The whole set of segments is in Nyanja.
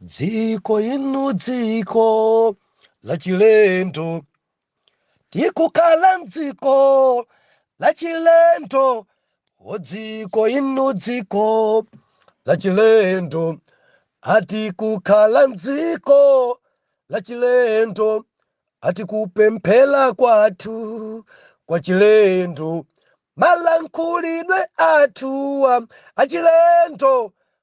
dziko lino dziko lachilendo tikukhala mdziko lachilendo o dziko lino dziko lachilendo ati kukhala mdziko lachilendo ati kupemphera kwathu kwachilendo malankhulidwe athuwa achilendo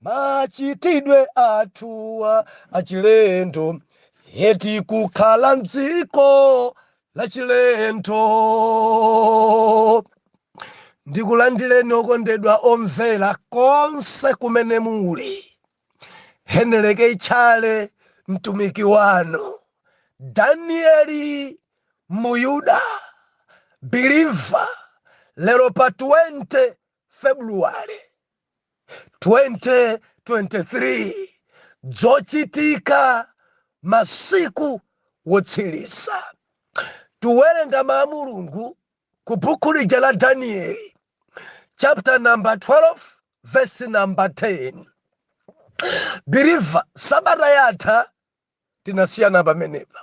Machitidwe athuwa achilendo, eti kukhala m'dziko lachilendo. Ndikulandireni okondedwa omvera konse kumene muli. Henry K. Tchale mtumiki wanu, Danieli Muyuda, believer, lero pa 20 February 2023 dzochitika masiku wotsiriza tuwerenga mau a mulungu ku buku lija la danieli chapter number 12 verse number 10 biliva sabata yatha tinasiyana pamenepa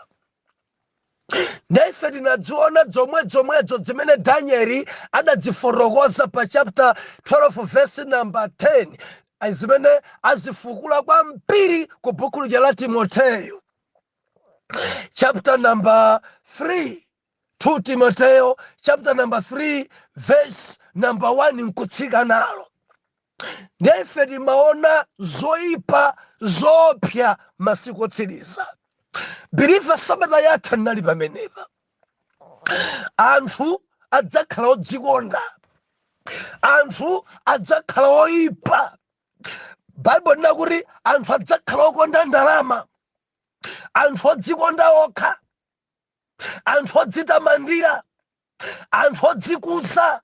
ndiye ife tinadziona dzomwe dzomwedzo dzimene danieli adadzifotokoza pa chapter 12 verse number 10 zimene azifukula kwambiri ku buku lija la timoteyo chapter number 3 2 Timoteo chapter number 3 verse number 1 nkutsika nalo ndiye ife timaona zoyipa zoopsa masiku otsiriza biliva sabata yatha ndinali pamenepa anthu adzakhala odzikonda anthu adzakhala oyipa baibulo linanena kuti anthu adzakhala okonda ndalama anthu odzikonda okha anthu odzitamandira anthu odzikuza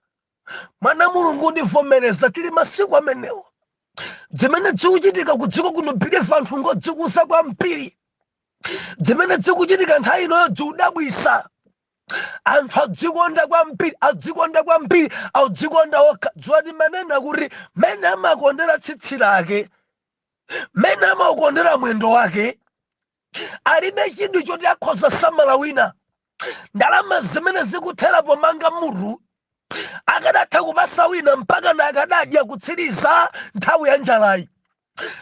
mwana mulungu ndivomereza tili masiku amenewo dzimene dzikuchitika kudziko kuno biliva anthu ngodzikuza kwambiri dzimene dzikuchitika nthawi inoyo dziudabwisa anthu adzikonda kwambiri adzikonda kwambiri audzikonda okha dziwa timanena kuti mene amakondera tsitsi lake mene amakondera mwendo wake alibe chidwi choti akhoza samala wina ndalama zimene zikuthera pomanga mutu akadatha kupasa wina mpaka na akadadya kutsiriza nthawi ya njalayi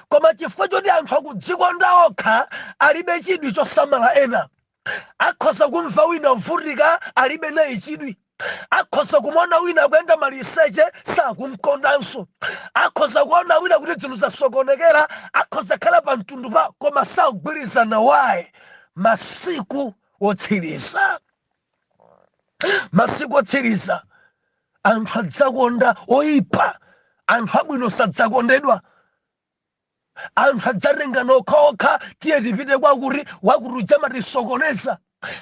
koma chifukwa choti anthu akudzikonda okha alibe chidwi chosamala ena akhoza kumva wina uvutika alibe naye chidwi akhoza kumuona wina kuyenda maliseche sakumkondanso akhoza kuona wina kuti dzinthu zasokonekera akhoza khala pa mtundu pa koma sakugwirizana naye masiku otsiriza masiku otsiriza anthu adzakonda oyipa anthu abwino sadzakondedwa anthu adzatengana okhaokha tiye tipite kwakuti wakuti uja amatisokoneza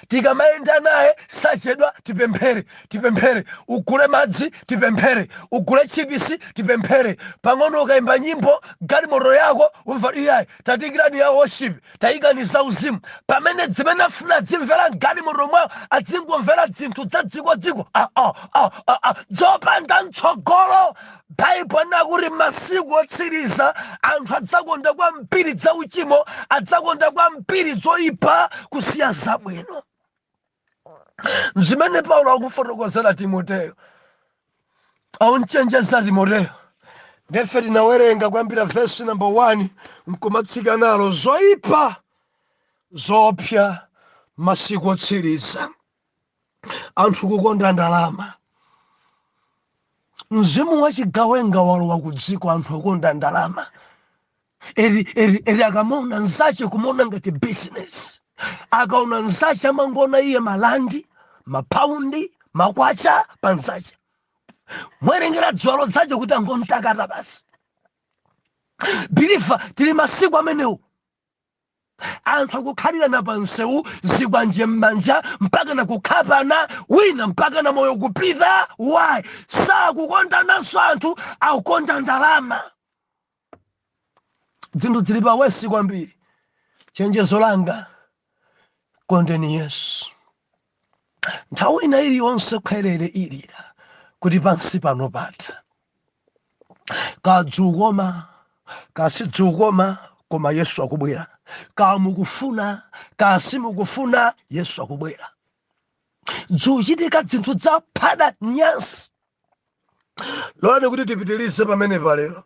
tikamayenda naye sachedwa tipemphere tipemphere ugule madzi tipemphere ugule chipisi tipemphere pang'ono ukayimba nyimbo galimoto yako umva iyayi taikirani ya worship taikani zauzimu pamene dzimene afuna dzimvera mgalimoto mwawo adzingomvera dzinthu dza dziko dziko dzopanda mtsogolo baibo inakuti masiku otsiriza anthu adzakonda kwambiri dza uchimo adzakonda kwambiri zoipa kusiya zabwino zimene paulo akufotokozera timoteyo aumchenjeza timoteyo nafe tinawerenga kuyambira vesi namba 1 nkumatsika nayo zoyipa zoopsa masiku otsiriza anthu kukonda ndalama mzimu wachigawenga walowa ku dziko anthu akukonda ndalama eri eri eri akamaona nzache kumaona ngati business akaona nzache amangoona iye malandi mapaundi makwacha pa nzache mwerengera dziwalo dzache kuti angomtakata basi believer tili masiku amenewo anthu akukhalirana pa msewu zikwanje m'manja mpaka na kukhapana wina mpaka na moyo kupita why sakukondananso anthu akukonda ndalama dzinthu dzili pa worse kwambiri chenjezo langa kondeni yesu nthawi ina iliyonse khwerere ilira kuti pansi pano patha kadzukoma kasidzukoma koma yesu akubwera kamukufuna kasimukufuna yesu akubwera dzuchitika dzinthu dzaphada nyansi lolani kuti tipitirize pamenepa lero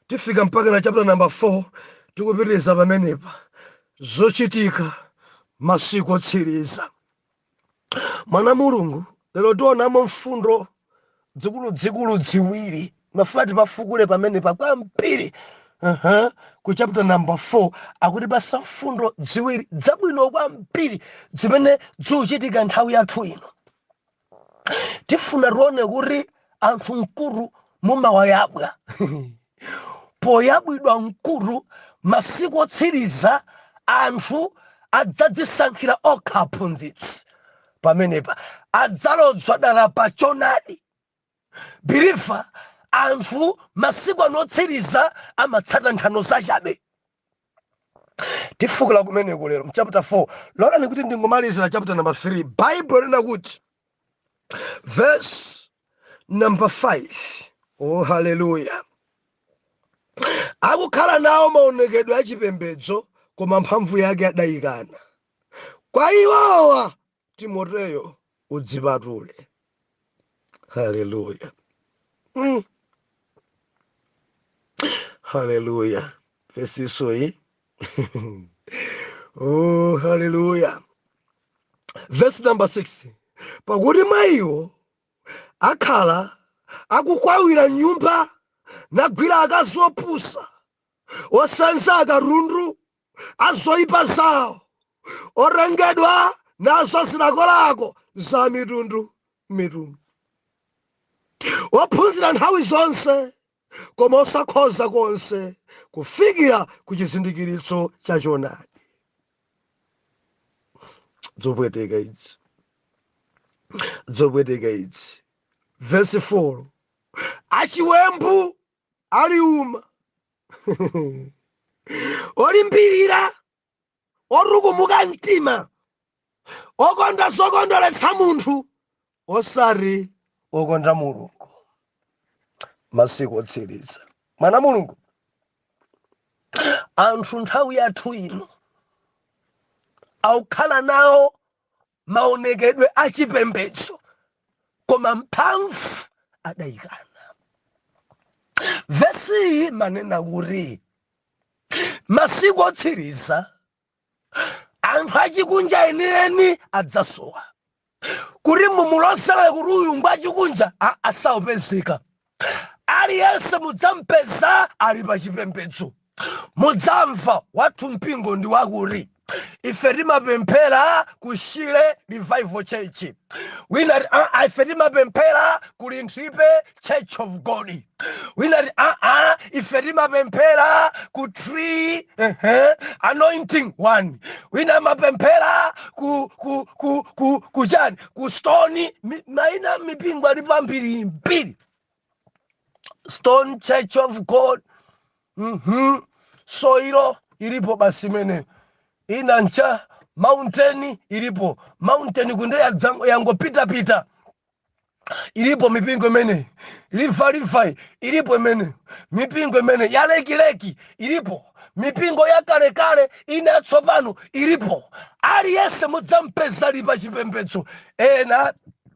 tifika mpaka na chapter number 4 tikupitiriza pamenepa zochitika masiku otsiriza mwana mulungu lero tionamo mfundo dzikuludzikulu dziwiri mafuna tipafukule pamenepa kwambiri uh-huh. ku chapter number 4 akutipatsa mfundo dziwiri dzabwino kwambiri zimene zikuchitika nthawi yathu ino tifuna tione kuti anthu mkutu mumawayabwa poyabwidwa mkutu masiku otsiriza anthu adzadzisankhira okha aphunzitsi pamenepa adzalodzwa dala pa chonadi believer anthu masiku ano otsiriza amatsata nthano zachabe tifukula kumeneko lero mchapter 4 lolani kuti ndingomalizira chapter number 3 bible linena kuti verse number 5 oh haleluya akukhala nawo maonekedwe achipembedzo koma mphamvu yake adayikana kwa iwowa timoteyo udzipatule haleluya mm. haleluya vesinso iyi oh, haleluya vesi namba 6 pakuti mwa iwo akhala akukwawira m'nyumba nagwira akazi opusa osenza akatundu azoipa zawo otengedwa nazo zilakolako za mitundu mitundu ophunzira nthawi zonse koma osakhoza konse kufikira ku chizindikiritso cha choonadi zopweteka izi zopweteka izi vesi 4 achiwembu aliuma olimbirira otukumuka mtima okonda zokondweretsa munthu osati okonda mulungu masiku otsiriza mwana wa mulungu anthu nthawi yathu ino akukhala nawo maonekedwe a chipembedzo koma mphamvu adayikana vesi iyi imanena kuti masiku otsiriza anthu achikunja enieni adzasowa kuti mumulozera kuti uyu ngwachikunja sadzapezeka aliyense mudzampeza ali pa chipembedzo mudzamva wathu mpingo ndi wakuti ife timapemphera ku shile revival church wina ati, "Ah, ah, ife timapemphera ku linthipe church of god wina ati, "Ah, ah, ife timapemphera ku tree ehe, anointing one wina amapemphera ku ku ku ku ku chani ku stone mi- maina a mipingo alipo ambiri mbiri stone church of god mhm soilo ilipo basi imene ina ncha mountain ilipo mountain kunde yadzango- yangopitapita ilipo mipingo imene river river ilipo imene mipingo imene yalekileki ilipo mipingo yakalekale ina yatsopano ilipo aliyense mudzampeza ali pa chipembedzo ena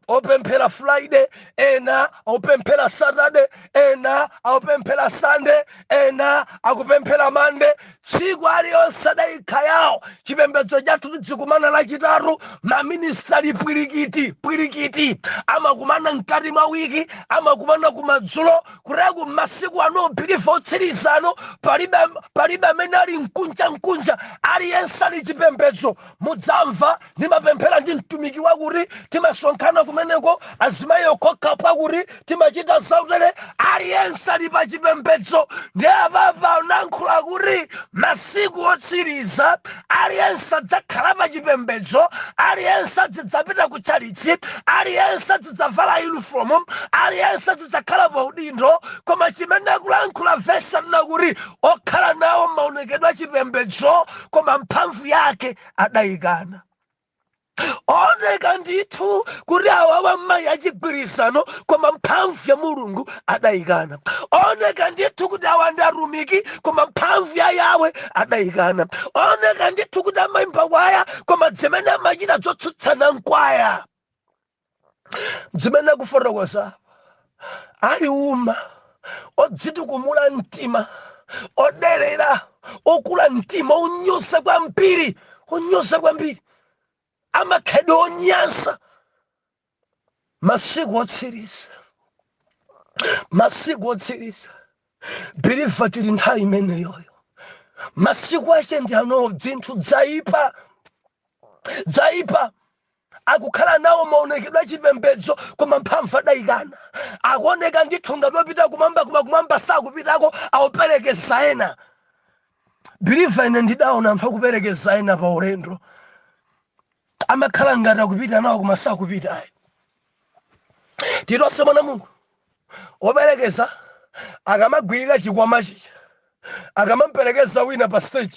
opemphera friday ena opemphera saturday ena akupemphera sunday ena akupemphera mande tsiku aliyonse adayika yawo chipembedzo chathu tidzikumana lachitatu maministry pwirikiti pwirikiti amakumana mkati mwa wiki amakumana kumadzulo kureku masiku ano believer otsiriza ano palibe palibe amene ali mkunja mkunja aliyense ali chipembedzo mudzamva ndimapemphera ndi mtumiki wakuti timasonkhana kumeneko azimayi okhaokha pakuti timachita zautele aliyense ali pa chipembedzo ndi apapa anankhula kuti masiku otsiriza aliyense adzakhala pa chipembedzo aliyense adzidzapita ku tchalitchi aliyense adzavala yunifomu aliyense azidzakhala pa udindo koma chimene akulankhula vesi ali nakuti okhala nawo maonekedwe achipembedzo koma mphamvu yake adayikana oneka ndithu kuti awawa mmayi achigwirizano koma mphamvu ya mulungu adayikana oneka ndithu kuti awa ndi atumiki koma mphamvu ya yawe adayikana oneka ndithu kuti amayimba kwaya koma zimene amachita zotsutsana nkwaya zimene akufotokoza ali uma odzitukumula mtima oderera okula mtima onyosa kwambiri onyosa kwambiri amakhalidwe onyansa masiku otsiriza masiku otsiriza believer tili nthawi imeneyoyo masiku ache ndi ano dzinthu dzaipa dzaipa Akukhala nawo maonekedwe a chipembedzo koma mphamvu adaikana. Akuoneka ndithu ngati opita kumwamba koma kumwamba sakupitako, akuperekeza ena. Believer ine ndidaona anthu akuperekeza ena pa ulendo. Amakhala ngati akupita nawo koma sakupita ayi. Titonse mwana Mulungu woperekeza akamagwirira chikwama chija akamamperekeza wina pa stage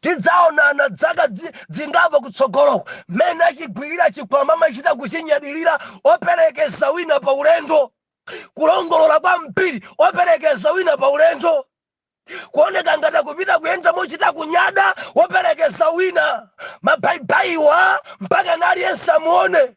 tidzaonana dzaka dzingapo kutsogoloko mmene achigwirira chikwama amachita kuchinyadilira operekeza wina pa ulendo kulongolola kwambiri operekeza wina pa ulendo kuoneka ngati akupita kuyenda mochita kunyada woperekeza wina mabaibayiwa mpaka naliyense amuone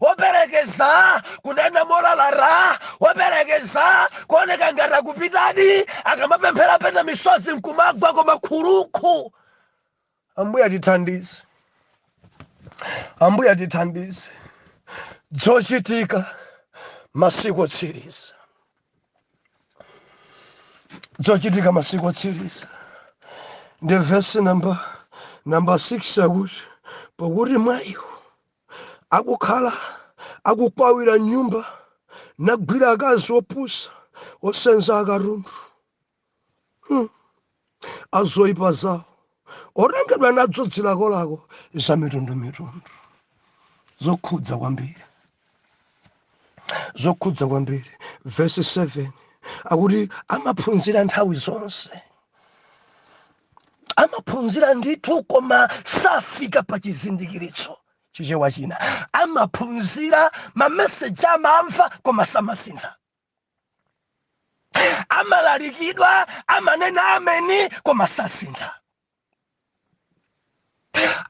operekeza kunena molalata operekeza kuoneka ngati akupitadi akamapemphera pena misozi nkumagwa koma khurukhu ambuye atithandize ambuye atithandize dzochitika masiku otsiriza dzochitika masiku otsiriza ndi vesi namba namba 6 akuti pakuti mwa iwo akukhala akukwawira m'nyumba nagwira akazi opusa osenza akatundu hmm. azoipa zawo otengedwa nadzo dzilakolako za mitundu mitundu zokhudza kwambiri zokhudza kwambiri vesi 7 akuti amaphunzira nthawi zonse amaphunzira ndithu koma safika pa chizindikiritso chichewa china amaphunzira mameseji amamva koma samasintha amalalikidwa amanena ameni koma sasintha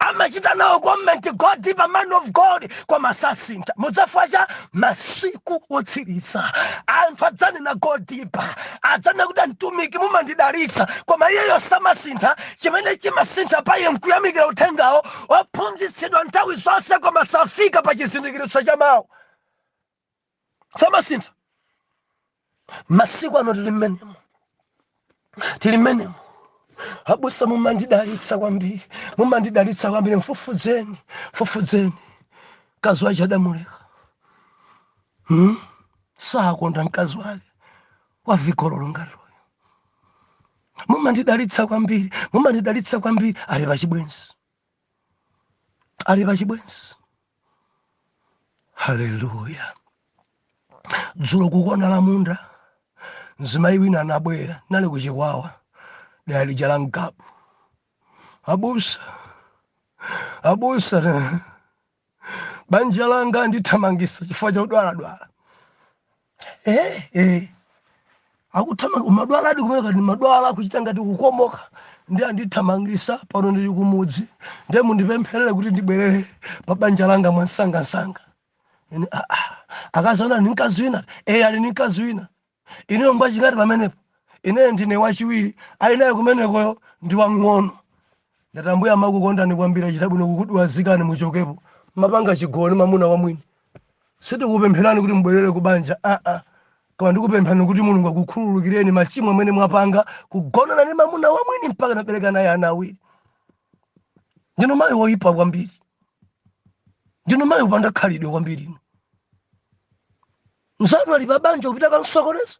amachita nawo komenti go deeper man of god koma sasintha chifukwa cha masiku otsiriza anthu adzanena go deeper adzanena kuti mtumiki mumandidalitsa koma iyeyo samasintha chimene chimasintha pa iye nkuyamikira uthengawo ophunzitsidwa nthawi zonse koma safika pa chizindikiritso cha mawu samasintha masiku ano tili mmenemo tili mmenemo abusa mumandidalitsa kwambiri mumandidalitsa kwambiri mfufudzeni mfufudzeni mkazi wace adamuleka hmm? sakonda mkazi wake wavigololo ngati uyu mumandidalitsa kwambiri mumandidalitsa kwambiri ali pachibwenzi ali pa chibwenzi haleluya dzulo kukona la munda mzimayi wina anabwera nali ku Chikwawa dera lija la Ngabu abusa abusa banja langa andithamangisa chifukwa cha udwaladwala eh, eh. akuthamanga umadwaladi kumene ndimadwala kuchita ngati kukomoka ndiye andithamangisa pano ndili kumudzi ndiye mundipempherere kuti ndibwerere pa banja langa mwansangansanga Ine, "Ah, ah." akazaona ni mkazi wina eh, ali ni mkazi wina Inuyo ngwachingati pamenepo? Ineyo ndine wachiwiri, ali naye kumenekoyo ndi wamng'ono. Ndati, Ambuye amakukondani kwambiri, achita bwino kukudwazikani muchokepo. Mmapanga chigololo ndi mwamuna wa mwini. Sitikukupempherani kuti mubwerere ku banja, aa, koma ndikupemphani kuti Mulungu akukhululukireni machimo amene mwapanga, kugonana ndi mwamuna wa mwini mpaka nabereka naye ana awiri. Ndinu mayi woipa kwambiri. Ndinu mayi wopanda khalidwe kwambiri inu. mzanu ali pa banja kupita kamsokoneza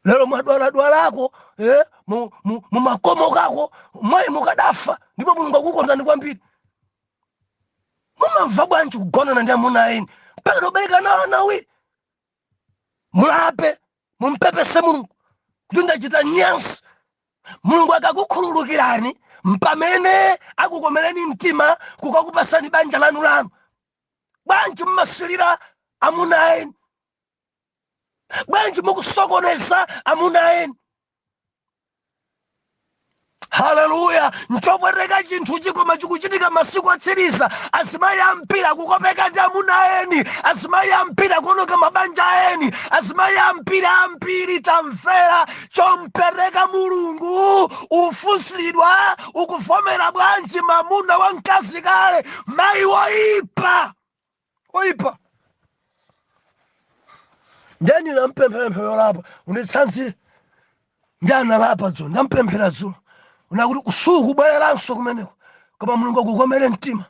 lero mwadwaladwalako eh, mu- mu- mumakomokako mwayi mukadafa ndipo mulungu akukondani kwambiri mumamva bwanji kugonana ndi amuna aeni mpaka nabereka nawo ana awiri mulape mumpepese mulungu kuti ndachita nyansi mulungu akakukhululukirani mpamene akukomereni mtima kukakupasani banja lanu lanu bwanji mmasilira amuna eni bwanji mukusokoneza amuna eni haleluya nchopweteka chinthuchi koma chikuchitika masiku otsiriza azimayi ambiri kukopeka ndi amuna eni azimayi ambiri kuononga mabanja eni azimayi ambiri ambiri tamvera chompweteka mulungu ufunsiridwa ukuvomera bwanji mamuna wa mkazi kale mayi woyipa woyipa ndeni nampemphera pemphero lolapa unditsanzire ndi analapa dzulo ndampemphera dzulo kunena kuti sukubwereranso kumeneko koma mulungu akukomere mtima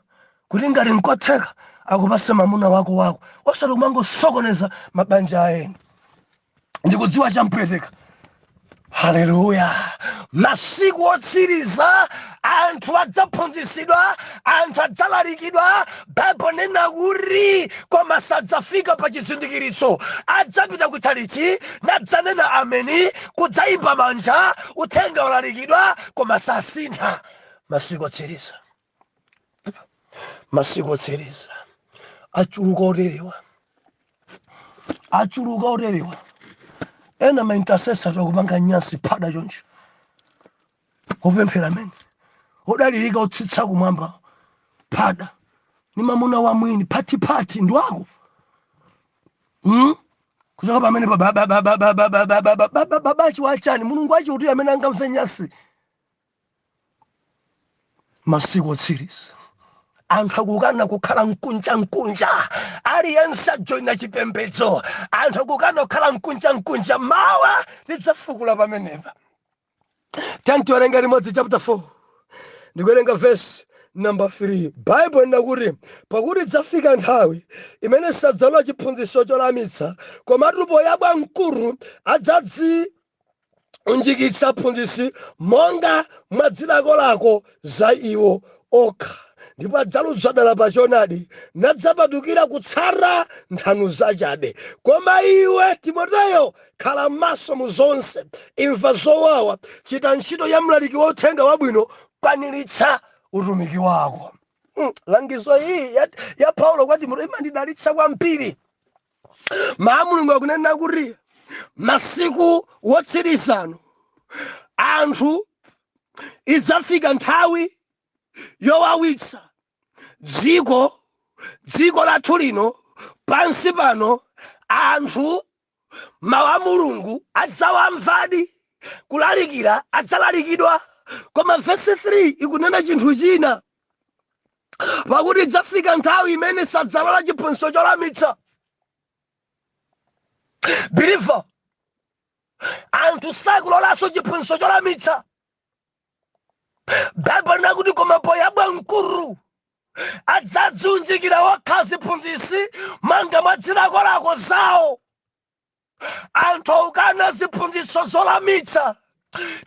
kuti ngati nkotheka akupase mamuna wako wako osati kumangosokoneza mabanja a eni ndikudziwa champweteka haleluya masiku otsiriza anthu adzaphunzitsidwa anthu adzalalikidwa baibulo nena kuti koma sadzafika pa chizindikiritso adzapita kutchalitchi nadzanena ameni kudzayimba manja uthenga ulalikidwa koma sasintha masiku otsiriza masiku otsiriza achuluka oterewa achuluka oterewa ena ma intercessor akupanga nyansi phada choncho opemphera amene odalirika otsitsa kumwamba phada ni mamuna wa mwini phathiphathi ndi wako mm? kuchoka pamenepo babachi wachani mulungu wache uti amene angamve nyansi masiku otsiriza anthu akukana kukhala mkunja mkunja aliyense ajoyina chipembedzo anthu akukana kukhala mkunja mkunja mawa lidzafukula pamenepa tatiwerenga limodzi chapter 4 ndikuwerenga vesi namba 3 baibulo linati kuti pakuti idzafika nthawi imene sadzalola chiphunzitso cholamitsa komatu poyabwa mkhutu adzadzi unjikitsa aphunzitsi monga mwa zilakolako za iwo okha ndipo adzaluza dala pa choonadi nadzapatukira kutsata nthano zachabe koma iwe timoteyo khala maso mu zonse imva zowawa chita ntchito ya mlaliki wa uthenga wabwino kwaniritsa utumiki wako Mm, langizo iyi ya, ya paulo kwa timoteyo imandidalitsa kwambiri mawu a mulungu akunena kuti masiku wotsirizano anthu idzafika nthawi yowawitsa dziko dziko lathu lino pansi pano anthu mawu a mulungu adzawamvadi kulalikira adzalalikidwa koma vesi 3 ikunena chinthu china pakuti idzafika nthawi imene sadzalola chiphunzitso cholamitsa biliva anthu sakulolanso chiphunzitso cholamitsa baibulo linati kuti koma poyabwa mkhutu adzadziunjikira okha ziphunzitsi monga mwa zilakolako zawo anthu aukana ziphunzitso zolamitsa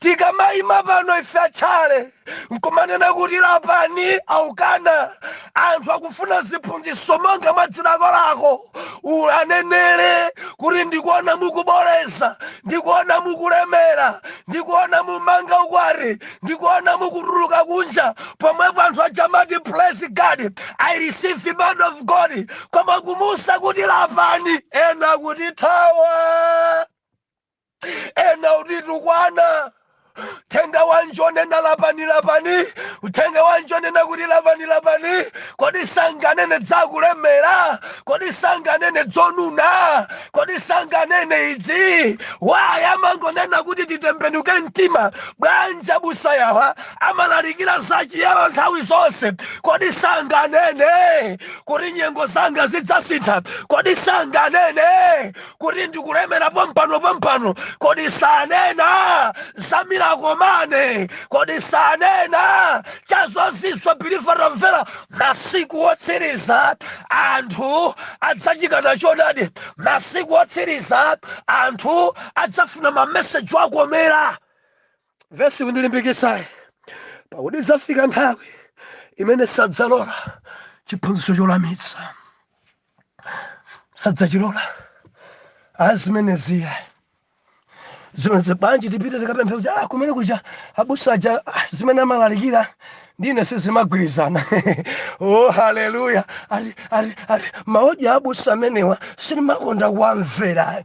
tikamayima pano ife a tchalitchi nkumanena kuti lapani aukana anthu akufuna ziphunzitso monga mwa dzilakolako ule anenere kuti ndikuona mukuboola ndikuona mukulemera ndikuona mumanga ukwati ndikuona mukutuluka kunja pomwepo anthu adzamati praise god i receive the man of god koma kuwauza kuti lapani ena akutithawa ena akutitukwana uthenga wanji onena lapani lapani uthenga wanji onena kuti lapani lapani kodi sanganene za kulemera kodi sanganene zonona kodi sanganene izi why amangonena kuti titembenuke mtima bwanja abusa awa amalalikira za chiyero nthawi zonse kodi sanganene kuti nyengo zanga zidzasintha kodi sanganene kuti ndikulemera pompano pompano kodi sanena za miracle money kodi sanena za zozizwa biliva tamvera masiku otsiriza anthu adzachikana chonadi masiku otsiriza anthu adzafuna mameseji owakomera Vesi kundilimbikitsa pakuti idzafika nthawi imene sadzalola chiphunzitso cholamitsa sadzachilola azimeneziya zimenezi bwanji tipite tikapemphe kuti ah, kumene kuja abusa aja ah, zimene amalalikira ndi ine sizimagwirizana oh haleluya ali ali ali ma audio a abusa amenewa sindimakonda kuwamvera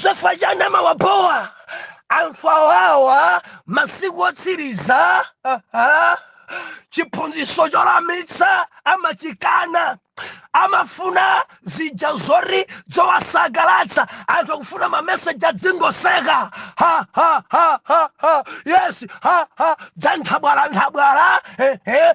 chifukwa chani amawabowa anthu awawa masiku otsiriza aha, chiphunzitso cholamitsa amachikana amafuna zija zoti zowasangalatsa anthu akufuna mameseji adzingoseka ha ha ha ha ha yes ha ha za nthabwala nthabwala ehe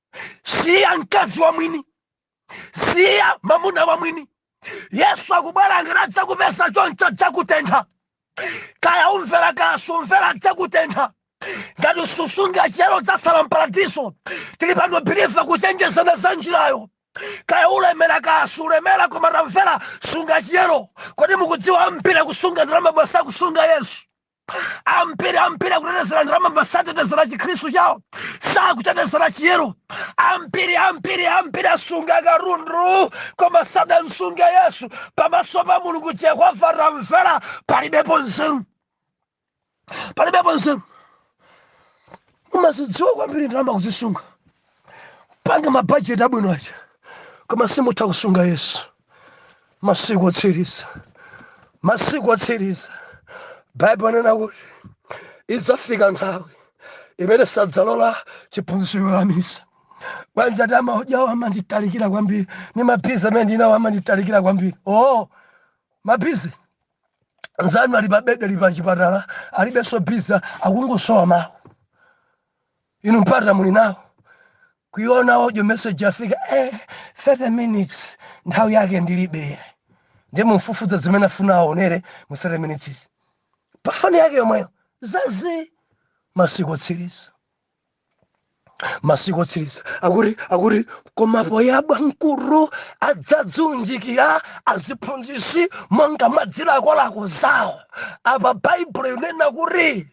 siya mkazi wa mwini siya mamuna wa mwini yesu akubwera ngati adzakupeza choncho adzakutentha kaya umvera kaya sumvera adzakutentha ngati susunga chiyero udzasala mparadiso tili pano biliva kuchenjezana za njirayo kaya ulemera kaya sulemera koma tamvera sunga chiyero kodi mukudziwa ambiri akusunga ndalama koma sakusunga yesu ambiri ambiri akutetezera ndalama osatetezera chikhristu chawo sakutetezera chiyero ambiri ambiri ambiri asunga katundu koma sadamsunge yesu pamaso pa mulungu yehova tamvera palibepo nzeru palibepo nzeru umazidziwa kwambiri ndalama kuzisunga panga mabajeti abwino aja koma simutha kusunga yesu masiku otsiriza masiku otsiriza baibulo yanena kuti idzafika nthawi imene sadzalola chiphunzitso cholamitsa bwanji ati ma audio awo amanditalikira kwambiri ni mabizi amene ndinawo amanditalikira kwambiri oo mabizi nzanu ali pabedi ali pachipatala alibenso bizi akungosowa mawu inu mpata muli nawo kuiona audio message yafika eh, 30 minutes nthawi yake ndilibe ndiye mumfufuza zimene afuna aonere mu 30 minutes izi pa foni yake yomweyo zazii masiku otsiriza masiku otsiriza akuti akuti koma poyabwa m'khutu adzadziunjikira aziphunzitsi monga mwa zilakolako zawo apa baibulo yonena kuti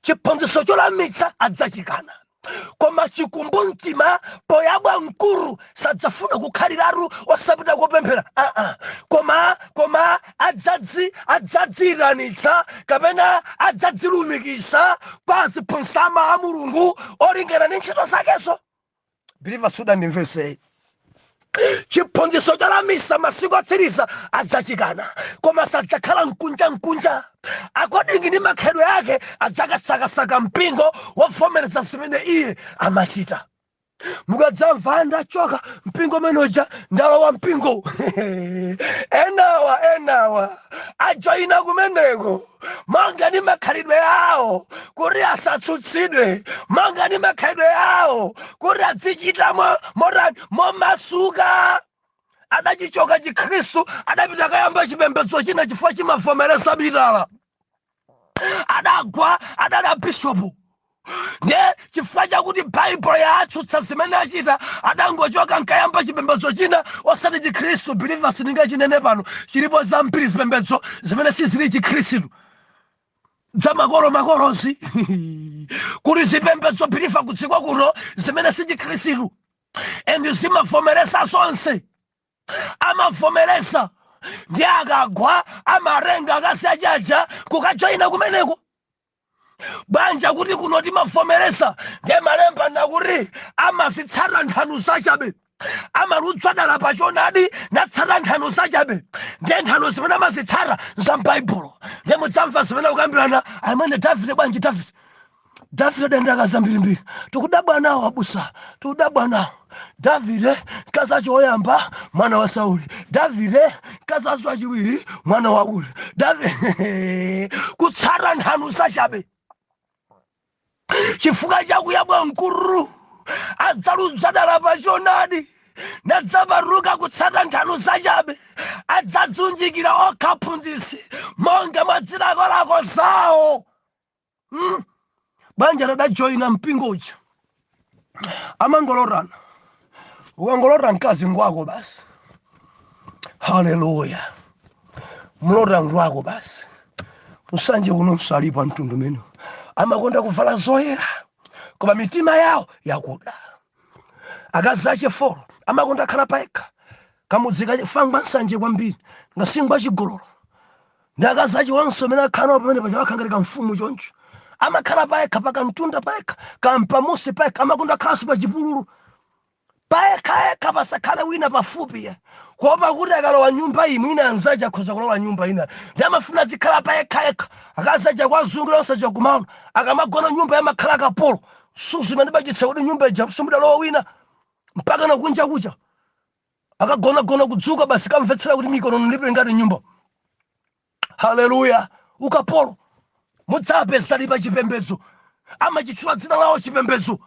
chiphunzitso cholamitsa adzachikana koma chikumbumtima poyabwa m'khutu sadzafuna kukhaliratu osapita kopemphera aa koma koma adzadzi adzadziyitanitsa kapena adzadzilumikiza kwa aziphunzitsi a mulungu olingana ndi ntchito zakezo biliva sudandimvesei chiphunzitso cholamitsa masiku atsiriza adzachikana koma sadzakhala nkunja nkunja according ndi makhalidwe ake adzakasakasaka mpingo wovomereza zimene iye amachita mukadzamva ndachoka mpingo umene uja ndalowa mpingo enawo enawo ajoyina kumeneko monga ndi makhalidwe awo kuti asatsutsidwe monga ndi makhalidwe awo kuti adzichita mo- motani momasuka adachichoka chikhristu adapita kukayamba chipembedzo china chifukwa chimavomereza mitala adagwa adali a bishopu nde chifukwa chakuti baibulo yaatsutsa zimene achita adangochoka nkayamba chipembedzo china osati chikhristu biliva sindingachinene pano chilipo zambiri zipembedzo zimene sizili chikhristu zamakolomakolozi kuli zipembedzo biliva kudziko kuno zimene si chikhristu and zimavomereza zonse amavomereza nde akagwa amarenga akasiya tchalitchi nkukajoyina kumeneko paja kuti kuno timavomereza ndiye malemba akuti amazitsata nthano zachabe amalunza dala pa chonadi natsata nthano zachabe ndiye nthano zimene amazitsata za mbaibulo ndiye mudzamva zimene akukambirana amvekere davide bwanji davide davide adali ndi akazi ambirimbiri tikudabwa nawo abusa tikudabwa nawo davide mkazi wace woyamba mwana wa sauli davide mkazi wace waciwiri mwana wa uri davide kutsata nthano zacabe chifukwa chakuyabwa m'khutu adzalunza dala pa chonadi nadzapatuka kutsata nthano zacabe adzadziunjikira okha aphunzitsi monga mwa zilakolako zawo mm. paja adajoyina mpingo uja amangolotana ukangolota mkazi ngwako basi haleluya mwalota ngwako basi kusanje kuno nso alipo a mtundu umenewu amakonda kuvala zoyera koma mitima yawo yakuda akazi ache folo amakonda kukhala paekha kamudzi kafangwa nsanje kwambiri ngasingwa chigololo ndi akazi ace onse amene akhala nawo pamene paja wakhala ngati kamfumu choncho amakhala payekha pakamtunda payekha kapamudzi payekha amakonda khalanso pa chipululu payekhayekha pasakhale wina pafupi ya kuopa kuti akalowa nyumba iyi mwina anzace akhoza kulowa nyumba ina nde amafuna azikhala payekhayekha akazi aja kwazungulira onse aja kumati akamagona nyumba iyi amakhala akapolo suzumira ni maso kuti nyumba ija simudalowa wina mpaka nakunja kuca akagonagona kudzuka basi kamvetsera kuti mikonono ndipe ngati m'nyumba haleluya ukapolo mudzapeza lipo chipembedzo amachitchula dzina lawo chipembedzo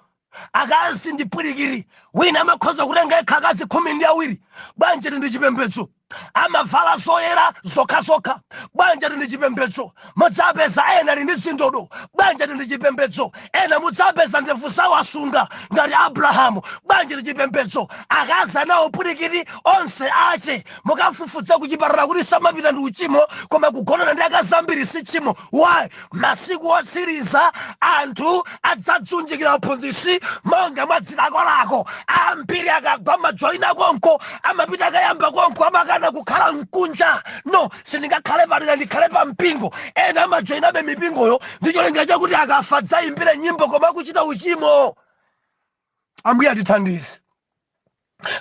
akazi ndi pwirikiri wina amakhoza kutenga yekha akazi khumi ndi awiri bwanji ati ndi chipembedzo amavala zoyera zokhazokha bwanji ati ndi chipembedzo mudzapeza ena ali ndi zindodo bwanji ati ndi chipembedzo ena mudzapeza ndevu zawo asunga ngati abrahamu bwanji ndi chipembedzo akazi anawo pwirikiri onse ache mukafufuza kuchipatala kuti samapita ndi uchimo koma kugonana ndi akazi ambiri si tchimo why masiku otsiriza anthu adzadziunjikira aphunzitsi monga mwa zilakolako ambiri akagwa amajoyina konko amapita akayamba konko amakana kukhala kunja no Sindingakhale padera ndikhale pa mpingo. Ena amajoinabe mipingoyo ndi cholinga chakuti akafa adzayimbiridwe nyimbo koma akuchita uchimo. Ambuye atithandize.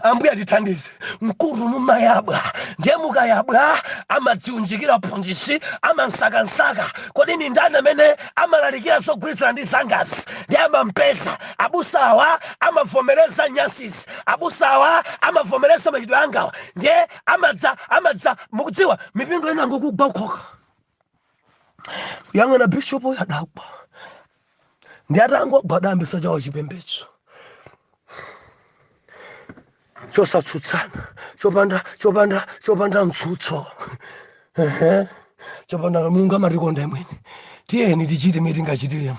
Ambuye atithandize. M'khutu mumayabwa ndiye mukayabwa amadziunjikira aphunzitsi amamsakasaka. Kodi ndi ndani amene amalalikira zogwirizana ndi zangazi? Ndiye amampeza. Abusawa amavomereza nyansizi. Abusawa amavomereza machitidwe angawa. Ndiye amadza amadza mukudziwa mipingo ina ndi akugwa okhaokha yang'ana bishopu uyu adagwa ndiye atangogwa adayambisa chawo chipembedzo chosatsutsana chopanda chopanda chopanda mtsutso Ehe. chopanda mulungu amatikonda imwene tiyeni tichite mene tingachitiremo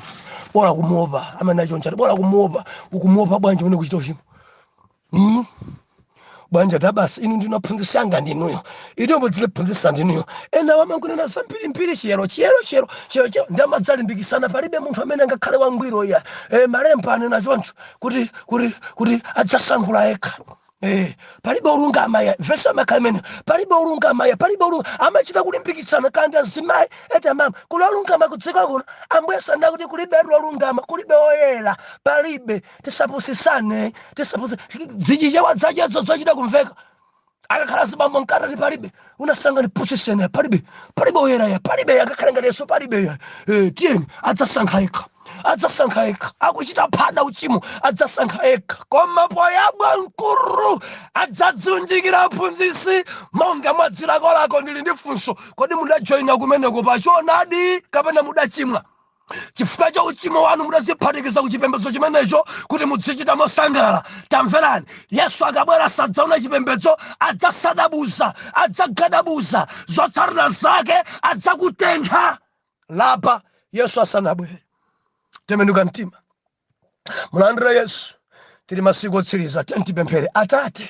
bola kumuopa amene achonchati bola kumuopa ukumuopa bwanji mmene ukuchita uchimo mm. bwanji ati basi inu ndiye m'phunzisi wanga ndinuyo ine mudzindiphunzisa ndinuyo ena amangonena zambirimbiri chiyero chiyero chiyero chiyero chiyero ndiye amadzalimbikisana palibe munthu amene angakhale wangwiro iya e, malemba anena choncho kuti kuti kuti adzasankhula yekha Eh, palibe olungama ya vesi amaka imene palibe olungama ya palibe olunga amachita kulimbikitsana kanthi azimayi eti amama kuli olungama kudziko kuno ambuye sanena kuti kulibe olungama kulibe oyera palibe tisapusisane tisapusi zichichewa zachezo zochita kumveka akakhala azibambo mkatati palibe unasanga ndipusisene palibe palibe oyera ya palibe akakhala ngati yesu palibe ya Eh, tiyeni adzasankha yekha adzasankha yekha akuchita phada uchimo adzasankha yekha koma poyabwa m'khutu adzadziunjikira aphunzisi monga mwa zilakolako ndili ndi funso kodi mudajoyina kumeneko pachonadi kapena mudachimwa chifukwa cha uchimo wanu mudaziphatikiza ku chipembedzo chimenecho kuti mudzichita mosangalala tamverani yesu akabwera sadzaona chipembedzo adzasadabuza adzagadabuza zotsatira zake adzakutentha lapa yesu asanabwere tembenuka mtima mulandire yesu tili masiku otsiriza tiyeni tipemphere atate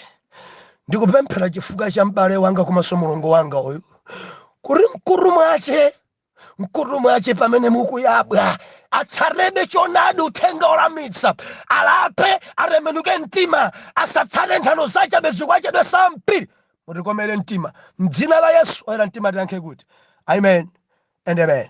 ndikupemphera chifukwa cha m'bale wanga komanso mlongo wanga uyu kuti mkutu mwache mkutu mwache pamene mukuyabwa atsatebe choonadi uthenga olamitsa alape atembenuke mtima asatsate nthano zachabe zikwanje zitsa mpiri mutikomere mtima mdzina la yesu oyera mtima tiyankhe kuti amen and amen